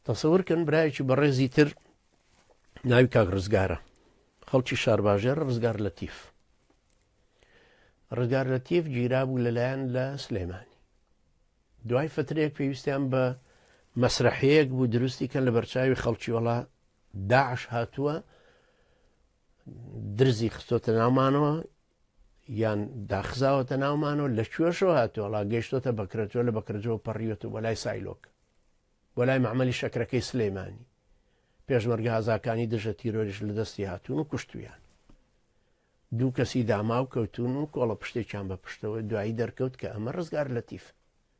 تەسەورکەن برایەکی بەڕێزی تر ناوی کاک ڕزگارە خەڵکی شارباژێر ڕزگار لە تیف ڕزگار لە تیف گیرا بوو لەلایەن لە سلێمانی دوای فترێک پێویستیان بە مەسرحەیەک بوو دروستی کە لە بەرچاوی خەڵکی وڵا داعش هاتووە درزی خستۆتە ناومانەوە یان داخزاوەتە ناومانەوە لە کوێشەوە هاتۆڵا گەشتۆتە بەکرەجۆ لە بەکرەجۆ پەڕیوەت و بەلای سایلۆک بەلای معمەلی شەکرەکەی سلەیمانی پێشمەرگە هازاکانی دژە تیرۆریش لە دەستی هاتوون و کوشتویان دوو کەسی داماو کەوتون و کۆڵە پشتێکیان بە پشتەوە دوایی دەرکەوت کە ئەمە ڕزگار لەتیف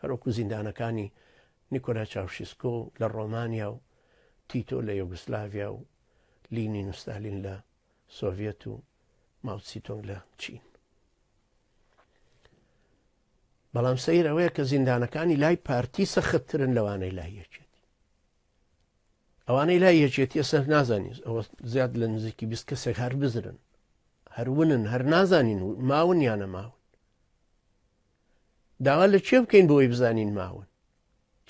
هەروەکو زیندانەکانی نیکۆلا چاوشیسکۆ لە ڕۆمانیا و تیتۆ لە یۆگۆسلاڤیا و لینین و ستالین لە سۆڤیەت و ماوتسی تۆنگ لە چین. بەڵام سەیر ئەوەیە کە زیندانەکانی لای پارتی سەختترن لەوانەی لای یەکێتی ئەوانەی لای یەکێتیە سەر نازانین ئەوە زیاد لە نزیکی بیست کەسێک هەر بزرن هەرونن هەر نازانین ماون یانە ماون داوا لە کێ بکەین بۆی بزانین ماون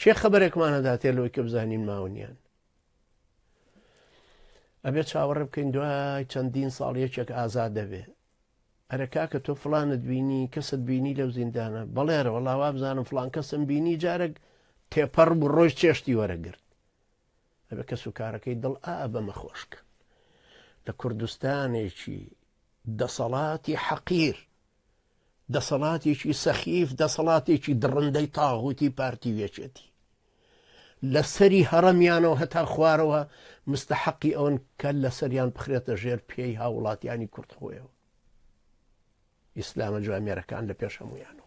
کێ خەبەرێکمان هەداتێ لۆی کە بزانین ماونیان ئەبێت چاوەڕێ بکەین دوای چەندین ساڵ یەکێک ئازاد دەبێ ئەرە کاکە تۆ فلانت بینی کەست بینی لەو زیندانە بەڵێرە وەڵاوا بزانم فلان کەسم بینی جارێک تێپەڕ بوو ڕۆژ چێشتی وەرەگرت ئەبێ کەس و کارەکەی دڵ ئا بەمە خۆشکە لە کوردستانێکی دەسەڵاتی حەقیر دەسەڵاتێکی سەخیف دەسەڵاتێکی دڕندەی تاغوتی پارتی وێچێتی لە سەری هەڕەمیانەوە هەتا خوارەوە مستحقی ئەوەن کە لە سەریان بخرێتە ژێر پێی هاوڵاتیانی کورد خۆیەوە ئیسلامە جوامێرەکان لە پێش هەمویانەوە